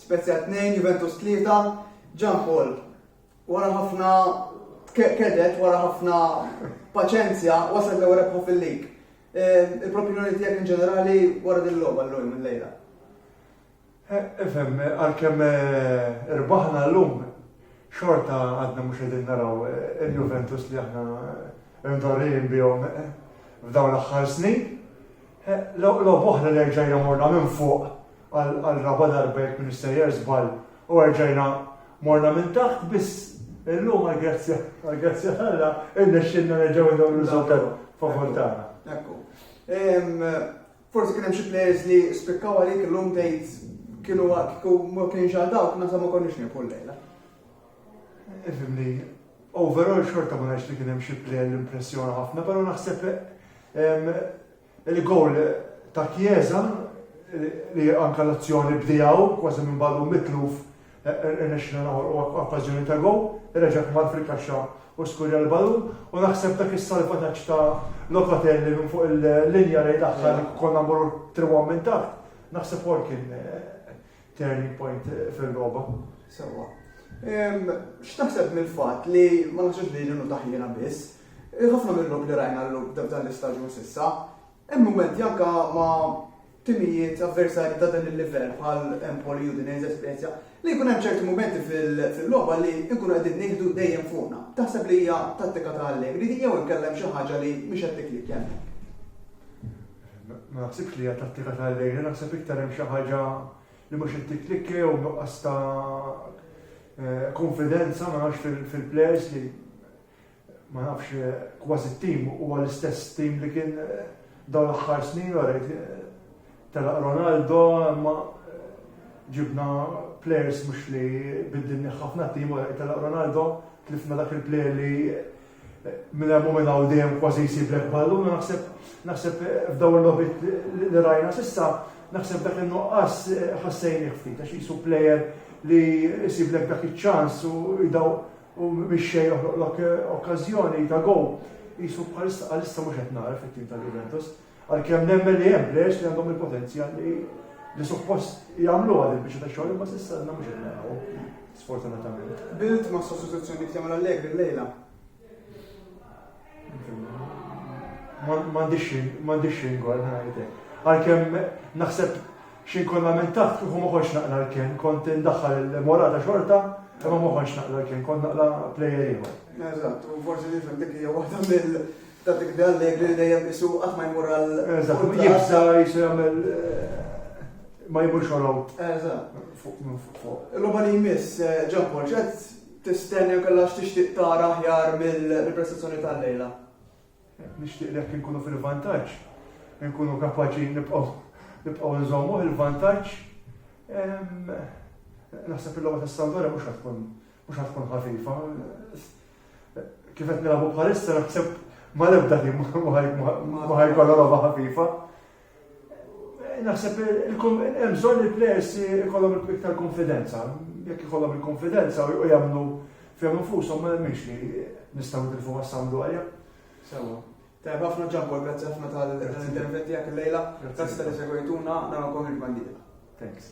Spezia 2, Juventus 3, Ġan Paul wara ħafna kedet wara ħafna paċenzja wasal l rebħa fil-lig. E, il-propinjoni tiegħek in ġenerali wara din logħba llum il-lejla. E, ifhem, għalkemm e, irbaħna llum xorta għadna mhux qegħdin naraw il-Juventus li aħna ndorrijin bihom f'dawn l-aħħar snin. Logħob oħra li erġajna morna minn fuq għal raba' darba jekk ministejjer żball u erġajna morna minn taħt biss illum għall-grazzja għall-grazzja tagħna irnexxilna nerġgħu ndew riżultat favur tagħna. Ekku. Forsi kien hemm xi players li spikkaw għalik illum tgħid kienu kienu ma kienx għal dawk nasa ma konniex nieħu l-lejla. Ifimni, Overall xorta ma ngħidx li kien hemm xi player li impressjona ħafna, però naħseb il-gowl ta' Chiesa li anke l-azzjoni bdejgħu kważi minn ballun mitluf irnexxina noħolqu okkażjoni ta' gowl, reġa' kmar fil-kaxxa u skurja l-ballun u naħseb dak is-salvataġġ ta' Locatelli minn fuq il-linja lejn l-aħħar konna mmorru 3-1 minn taħt, naħseb ukoll kien Turning point fil-logħba. Sewwa. X'taħseb mill-fatt li ma naħsibx li ġenu taħjina biss, ħafna mill-lok li rajna l-lok dan l-istaġun sissa, hemm mumenti anka ma timijiet avversari ta' dan il-livell bħal Empoli u din esperienza li jkun hemm ċerti mumenti fil-logħba li nkunu qegħdin nieħdu dejjem fuqna. Taħseb li hija tattika ta' Allegri di jew inkellem xi ħaġa li mhix qed tiklik Ma naħsibx li hija tattika ta' Elena, naħseb iktar hemm xi ħaġa li mhux qed tikklikka jew nuqqas ta' kunfidenza ma nafx fil-plejers li ma nafx kważi t-tim huwa l-istess tim li kien dawn l-aħħar snin wara telaq Ronaldo imma ġibna plejers mhux li biddilni ħafna tim wara telaq Ronaldo tlifna dak il-plejer li Minn hemm u minn hawn dejjem kważi jsiblek ballun u naħseb naħseb f'dawn il-logħbiet li rajna s'issa naħseb dak in-nuqqas ħassejnih ftit għax qisu plejer li jsiblek dak iċ-ċans u jdaw u mix-xejn joħloqlok okkażjoni ta' gowl. Qisu bħalissa bħalissa mhux qed nara fit-tim tal-Juventus. Għalkemm nemmen li hemm players li għandhom il-potenzjal li li suppost jagħmluha din biex ta' xogħol imma s'issa għandna mhux qed naraw sfortunatament. Bilt ma' sostituzzjoni li jagħmel Allegri llejla. M'għandix xejn gol ngħidlek. Għalkemm naħseb xi nkun lamentat kieku ma kontx naqla l-ken, kont indaħħal il-morata xorta, imma ma kontx naqla l-ken, kont naqla plejer ieħor. Eżatt, u forsi nifhem dik hija waħda mill- Ta' tikbi Allegri li dejjem qisu qatt ma jmur għal Eżatt, jibża' qisu jagħmel ma jmurx warahom. Eżatt. Fuq minn fuq. Il-logħba li jmiss, Ġampol, x'qed tistenna jew kellha x'tixtieq tara aħjar mill-prestazzjoni tal-lejla? Nixtieq li jekk inkunu fil-vantaġġ, inkunu kapaċi nibqgħu nżommuh il-vantaġġ. Naħseb il-logħba tas-Sampdoria mhux ħadd tkun Mhux ħa tkun ħafifa. Kif qed nilagħbu bħalissa naħseb ma l-ebda tim ma ħajkollha logħba ħafifa. Naħseb hemm bżonn il-players ikollhom iktar konfidenza. Jekk ikollhom il-konfidenza u jagħmlu fihom infushom ma nemminx li nistgħu nitilfu għas-samdu għalja. Sewa. Tajb ħafna ġampol, grazzi ħafna tal-interventi għak il-lejla, grazzi tal-segwejtuna, narakom il-bandita. Thanks.